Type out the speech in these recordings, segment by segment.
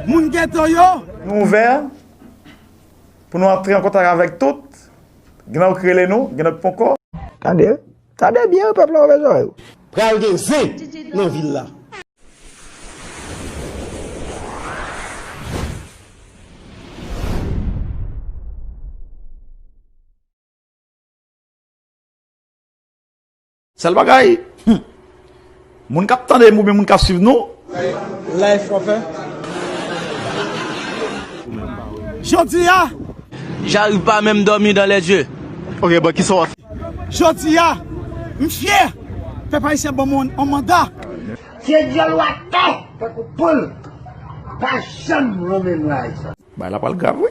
Moun ghetto yo! Nou ouvè pou nou antre an kontak avèk tout. Gen lòt k rele nou, gen lòt k ponkò. Tande! Tande byen pèp la ouvè zòrèy ou. Pral gen zen nan vil la. Sel bagay Humm Moun kap tandem oubyen moun kap swiv nou. Life wap fè Jodi a. J'arrive pas menm dormi dans les yeux. Ok bon kisa wap fè. Jodi a. M fyè. Pèp ayisyen banm on manda. Se dyòl wap fè tankou poul. Pa janm renmen nwa ayisyen. Bagay la pral grav wi.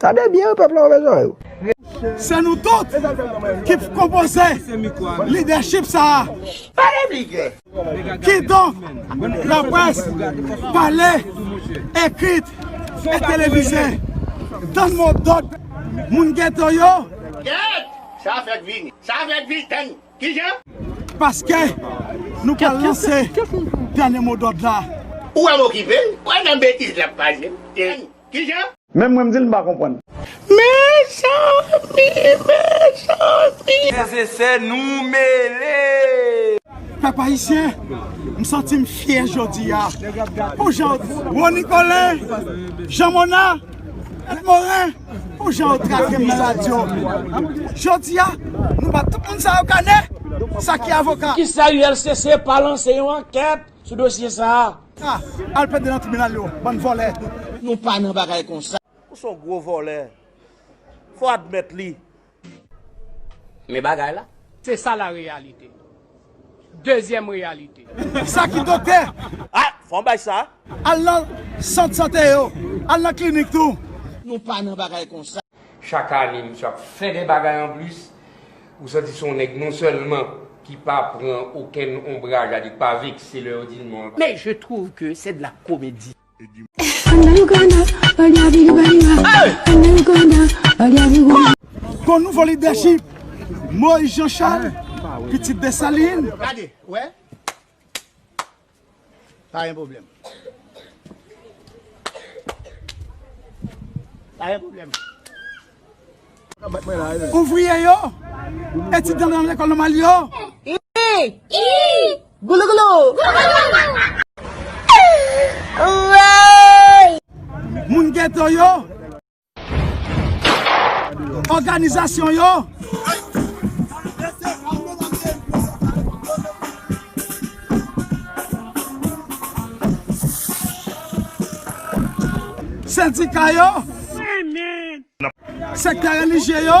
Tande byen wi pèp la ouve zòrèy ou. Se nou tout ki p konpoze lidèchip sa a. Pale pli klè. Kidonk, laprès, pale, ekrit e televize, tann mo dòd moun geto yo. Kèèt! Sa fèk vini. Sa fèk vini. Tann. Ki jan? Paske nou pral lanse dènye mo dòd la. Ou wè m okipe l? Wè jan betiz l ap pase. Kijan? Menm mwen m dil m pa konprann. Mezanmi mezanmi. Bondye fè nou mele. Pèp ayisyen m santim fyè jodia pou jan Rony Colin, Jean Mona et Morin pou jan yo tratem nan radio jodia nou bat tout moun sa yo kanè sa ki avoka. Poukisa ULCC pa lanse yon ankèt sou dosye sa a. A, al plede nan tribinal yo, bann vòlè. Nou pa nan bagay konsa. Ou son gwo vòlè. Fò admèt li. Men bagay la. Se sa la reyalite. Dezyèm reyalite. Sa ki doktè? A, fò m bay sa. Al nan sant sante yo. Al nan klinik tou. Nou pa nan bagay konsa. Chak ane misye ap fè de bagay anplis. Ou santi se yon nèg non sèlman ki pa pran okenn onbraj a li, k pa vekse lè yo di l non l pa. Mais je trouve que c'est de la comédie. Bon nouvo lidèchip Moyiz Janchal, pitit Desalin. Pa gen pwoblèm. Pa gen pwoblèm. Ouvriye yo, etidyan nan lekòl nòmal yo. Moun geto yo. Òganizasyon yo. Sendika yo. Sektè relijye yo.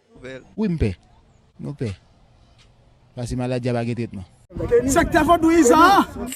Wi m pè. Nou pè. Pase maladi a pa gen tretman. Sektè vodouyizan an!